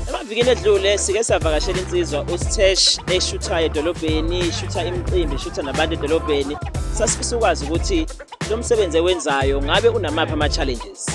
Emavikini edlule sike savakashela insizwa uSthesh eshuthayo edolobheni, ishutha imicimbi, ishutha nabantu edolobheni. Sasifisa ukwazi ukuthi lo msebenzi ewenzayo ngabe unamaphi ama-challenges.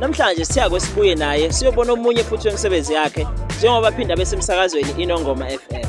Namhlanje siya kwesibuye naye siyobona omunye futhi wemisebenzi yakhe njengoba aphinda besemsakazweni Inongoma FM.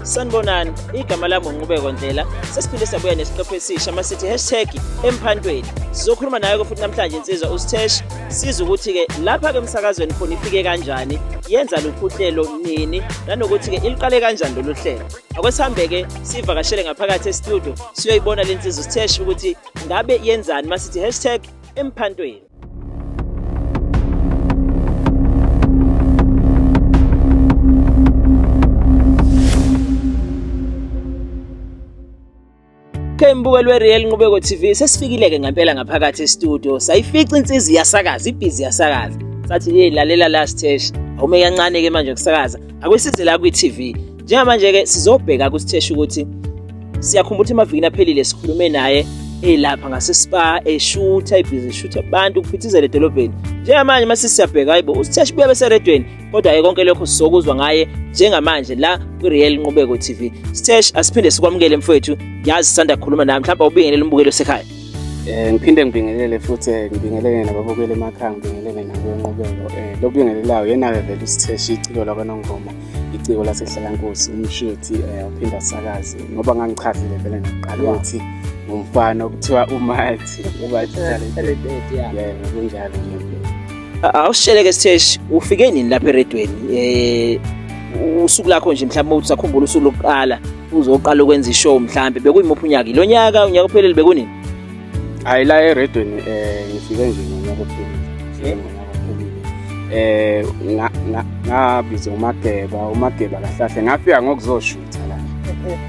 Sanibonani, igama lami uNqubeko Ndlela. Sesiphinde sabuya nesiqephu esisha masithi hashtag emphantweni. Sizokhuluma naye futhi namhlanje insizwa uSthesh siza ukuthi-ke lapha-ke emsakazweni khona ifike kanjani yenza luphi uhlelo nini nanokuthi-ke iliqale kanjani lolu hlelo akwesihambe-ke sivakashele ngaphakathi estudio siyoyibona le nsizwa sitheshe ukuthi ngabe yenzani masithi hashtag emphantweni Ke mbukeli weReal Nqubeko TV sesifikile-ke ngempela ngaphakathi estudio sayifica insizi iyasakaza ibhizi iyasakaza sathi hey lalela la Sthesh awume kancane-ke manje ukusakaza akwesize la kwi-TV njengamanje-ke sizobheka kuSthesh ukuthi siyakhumbula ukuthi emavikini aphelile sikhulume naye elapha ngasespa eshutha ibhizi eshutha abantu kuphithizela edolobheni njengamanje mase siyabheka hayibo uSthesh buya beseredweni kodwa-ke konke lokho sizokuzwa ngaye njengamanje la kwi-real nqubeko tv stesh asiphinde sikwamukele mfowethu ngiyazi sisanda kukhuluma naye mhlawumbe ubingelele umbukeli osekhaya um ngiphinde ngibingelele futhi eh, ngibingelele nababukeli emakhaya ngibingelele nabenqubeko um eh, lokubingelelayo yena-ke vele usitheshi iciko lakwanongoma iciko lasehlalankosi umshuthi um uphinde asakaze ngoba ngangichazile vele nakuqala ukuthi ngumfana okuthiwa umathi ubathi kunjalo nje Awusheleke Stesh ufike nini lapha eredweni eh usuku lakho nje mhlawumbe uthi sakhumbula usuku lokuqala uzoqala ukwenza ishow mhlawumbe bekuyimuphi unyaka lo nyaka unyaka ophelele bekunini hayi la eredweni eh ngifike nje ngonyaka ophelele eh ngabiza umageba umageba kahlahle ngafika ngokuzoshutha la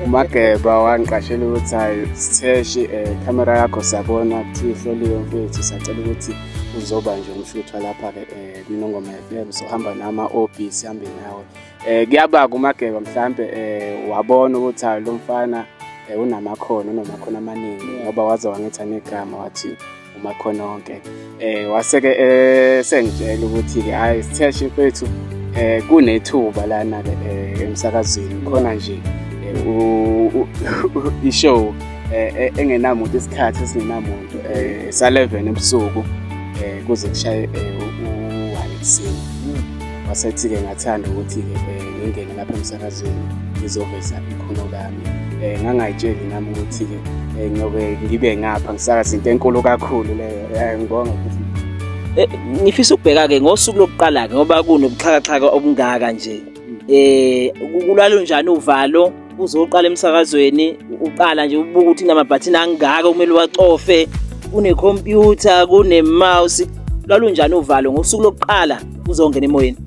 umageba wangiqashela ukuthi hayi sitheshe eh camera yakho sabona kuthi ihloliwe mfethu sacela ukuthi uzoba nje umshuthwa lapha ke eh, kwinongoma FM sohamba nama OB sihambe nawe eh kuyaba kumageba mhlambe eh wabona ukuthi lo mfana eh, unamakhono unamakhono amaningi ngoba waze wangetha negama wathi umakhono onke eh waseke eh, sengitshela ukuthi ke hayi sitheshe mfethu eh kunethuba lana ke eh, emsakazweni khona nje eh, ishow engenamuntu isikhathi esingenamuntu eh, sa 11 ebusuku eh, kuze kushaye eh, u-1 ekuseni wasethi-ke ngathanda ukuthi-ke eh, ngingene lapha emsakazweni ngizoveza ikhono lami um ngangayitsheli nami ukuthi-ke um ngiyobe ngibe ngapha ngisakaza into enkulu kakhulu leyo um ngibonga ukuthi eh, ngifisa ukubheka-ke ngosuku lokuqala-ke ngoba kunobuxhakaxhaka obungaka nje um kulwalo njani uvalo uze uqala emsakazweni uqala nje ubuka ukuthi namabhathini angaka kumele uwacofe kunekhompyutha kunemouse lwalunjani uvalo ngosuku lokuqala uzongena emoyeni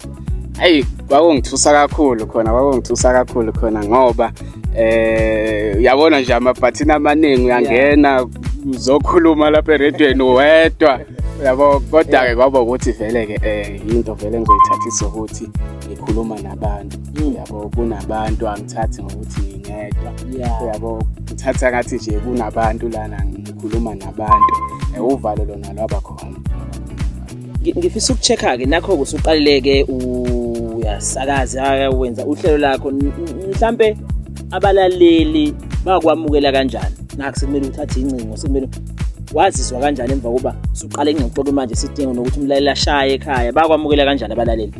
ayi kwakungithusa kakhulu khona kwakungithusa kakhulu khona ngoba eh uyabona nje amabhathini amaningi uyangena uzokhuluma lapha eredweni wedwa yabo kodwa-ke kwaba ukuthi vele-ke um yinto vele engizoyithathisa ukuthi ngikhuluma nabantu yabo kunabantu angithathi ngokuthi ngingedwa yabo ngithatha ngathi nje kunabantu lana ngikhuluma nabantu uvalo lona lwaba khona ngifisa ukucheck-ke nakho-ke usuqalileke uyasakaza wenza uhlelo lakho mhlampe abalaleli bakwamukela kanjani nakho sekumele uthathe incingo sekumele wazizwa kanjani emva kokuba usuqale ingxoxo manje sidinga nokuthi umlaleli ashaye ekhaya bakwamukela kanjani abalaleli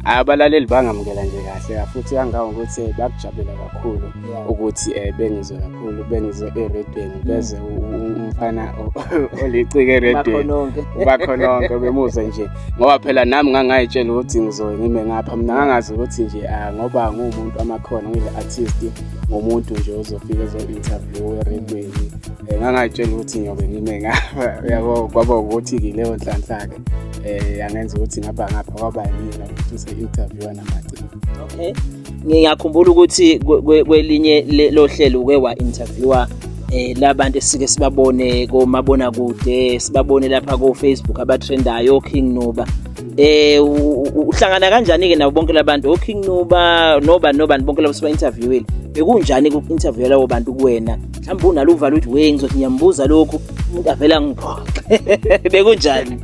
abalaleli bangamukela nje kahle futhi kangawo ukuthi eh, bakujabulela kakhulu ukuthi um bengizwe kakhulu bengizwe eredweni mm. beze umfana olicike eredweni ubakhononke bemuzwe nje ngoba phela nami ngangayitshela ukuthi ngizoye ngime ngapha mina ngangazi ukuthi nje ah, ngoba nguwumuntu amakhona ngile-artist ngomuntu nje ozofika ezo-interview eredweni um eh, ngangayitshela ukuthi ngiyobe ngime ngapha yabo kwaba ukuthi-ke leyo nhlanhla-ke eh angenza ukuthi ngaba ngapha kwaba yimina ukuthi use-interviewa namaciko okay ngiyakhumbula ukuthi kwelinye lohlelo uke wa-interviewa eh labantu esike sibabone komabona kude sibabone lapha ko Facebook abatrendayo King Nuba eh uhlangana kanjani ke nabo bonke labantu o King Nuba noba noba bonke labo siba interviewile bekunjani ku interview labo bantu kuwena mhlawumbe unalo uvalo ukuthi we ngizothi ngiyambuza lokhu umuntu avele angiphoxe bekunjani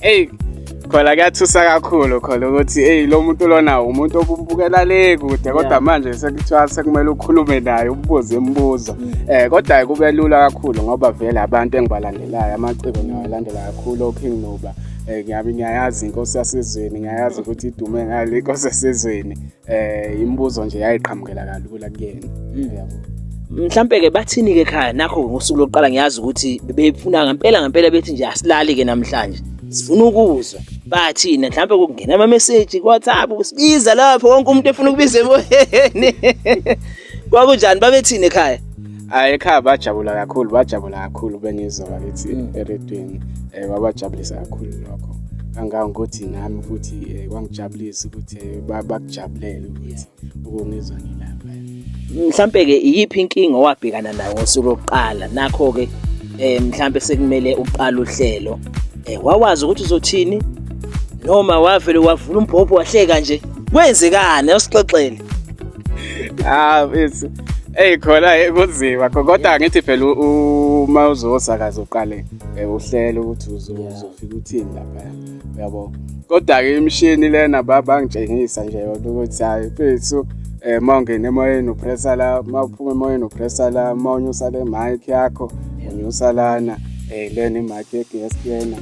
eyi khona kuyathusa kakhulu khona ukuthi eyi lo muntu lona umuntu okumbukela le kude kodwa manje sekuthiwa sekumele ukhulume naye ububuze imibuzo um mm. eh, kodwa-ke kube lula kakhulu ngoba vele abantu engibalandelayo amaciko ngiyawalandela kakhulu oking noba um ngiyabe ngiyayazi inkosi yasezweni ngiyayazi ukuthi idume ngale inkosi yasezweni eh imibuzo nje yayiqhamukela kalula kuyena mm. yabo mhlambe ke bathini ke ekhaya nakho ngosuku lokuqala ngiyazi ukuthi bebefuna ngempela ngempela bethi nje asilali ke namhlanje sifuna ukuzwa bathina mhlambe kungena ama message ku WhatsApp kusibiza lapho wonke umuntu efuna ukubiza emoyeni Kwakunjani babethini ekhaya? Hayi ekhaya bajabula kakhulu, bajabula kakhulu bengizwa bakithi mm. eredweni. Eh babajabulisa kakhulu lokho. Kangangokuthi nami futhi eh, kwangijabulisa ukuthi eh, bakujabulele ukuthi ukungizwa ngilapha. Mhlambe ke iyiphi inkinga owabhekana nayo ngosuku lokuqala? Nakho ke eh mhlambe sekumele uqala uhlelo. Eh wawazi ukuthi uzothini? Noma wavele wavula umbhobho wahleka nje. Kwenzekani? Usixoxele. ah mfethu Ey khona kunzima kodwa ngithi phela uma uzosakaza uqale eh, uhlele ukuthi uzofika uthini lapha uyabo kodwa ke imishini lena baba ngitshengisa nje yona ukuthi hayi mfethu eh mawungena emoyeni upressa la mawuphuma emoyeni upressa la mawunyusa le mic yakho unyusa lana eh lena imic ye guest lena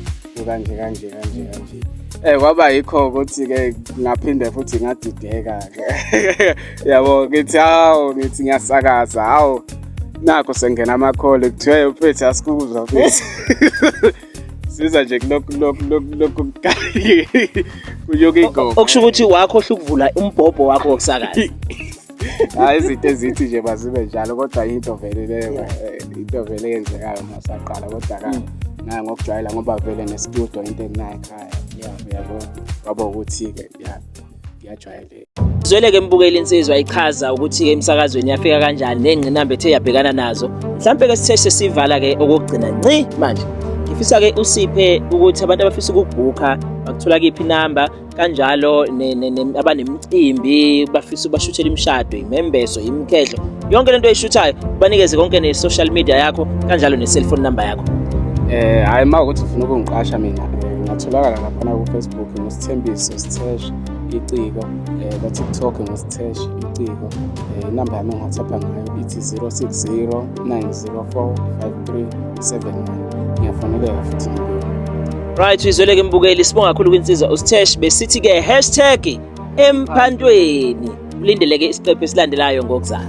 kanje kanje kanje kanje Eh kwaba yikho ukuthi ke ngaphinde futhi ngadideka ke. Yabo ngithi hawo ngithi ngiyasakaza hawo nakho sengena amakhole kuthiwe uphethe asikuzwa futhi. Siza nje kulokhu lokhu lokhu lokhu kuyoke igogo. Okusho ukuthi wakho hlukuvula umbhobho wakho wokusakaza. hayi izinto ezithi nje mazibe njalo kodwa yinto vele leyo eh, into vele eyenzekayo masaqala kodwa ka mm. naye ngokujwayela ngoba vele nestudio into enginayo ekhaya yabo kwaba ukuthi-ke ngiyajwayeleka zwele-ke mbukeli insizwa ichaza ukuthi-ke emsakazweni yafika kanjani ney'ngqinamba ethe yabhekana nazo mhlawumpe-ke sithe sesivala-ke okokugcina nci manje ngifisa-ke usiphe ukuthi abantu abafisa ukubhukha bakuthola kiphi inamba kanjalo abanemicimbi bafisa ubashuthela imishado imembeso imkhehlo yonke lento oyishuthayo ubanikeze konke ne-social media yakho kanjalo ne-cellphone number yakho eh hayi ma ukuthi ufuna ukungiqasha mina eh, ngatholakala laphana kufacebook ngusithembiso sithesha iciko eh, kwatiktok ngusithesha iciko eh, inamba yami engiwhatsappha ngayo ithi 060 904 53 Right uyizweleke mbukeli sibonga kakhulu kwinsizwa uSthesh besithi ke hashtag emphantweni ulindeleke isiqephu esilandelayo ngokuzayo